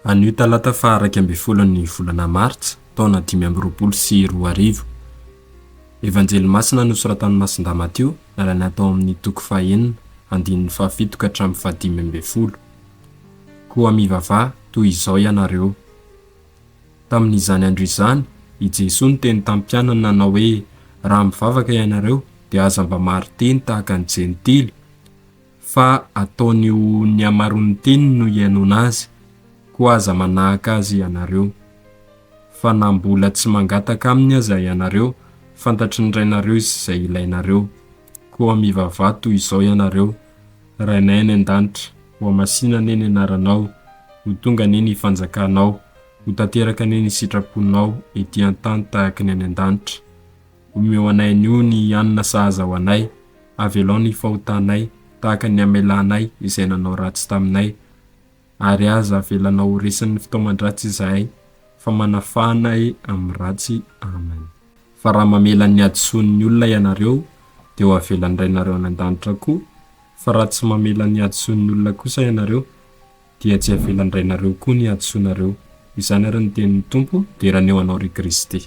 Anio talata faha iraika ambin'ny folon'ny volana martsa taona dimy amby roapolo sy roa arivo. Evanjely masina nosoratan'i Masindahy Matio nalaina tao amin'ny toko faha enina andininy faha fito ka hatramin'ny faha dimy ambin'ny folo. Koa mivavaha toy izao ianareo. Tamin'izany andro izany, i Jesoa niteny tamin'ny mpianany nanao hoe, Raha mivavaka ianareo, dia aza mba marin-teny tahaka ny Jentily, fa ataony ho ny hamaroan'ny teniny no hihainoana azy, koa aza manahaka azy ianareo. Fa na mbola tsy mangataka aminy aza ianareo, fantatry ny Rainareo izay ilainareo. Koa mivavaha toy izao ianareo, Rainay any an-danitra, ho masina anie ny anaranao, ho tonga anie ny fanjakanao, ho tanteraka anie ny sitraponao ety an-tany tahaka ny any an-danitra. Omeo anay anio ny hanina sahaza ho anay, avelao ny fahotanay tahaka ny hamelanay izay nanao ratsy taminay, ary aza avelanao ho resin'ny fitaoman-dratsy izahay, fa manafà anay amin'ny ratsy. Amen. Fa raha mamela ny hadisoan'ny olona ianareo, dia ho avelan'ny Rainareo any an-danitra koa, fa raha tsy mamela ny hadisoan'ny olona kosa ianareo, dia tsy avelan'ny Rainareo koa ny hadisoanareo. Izany àry no tenin'ny Tompo, Dera ny eo anao, ry Kristy.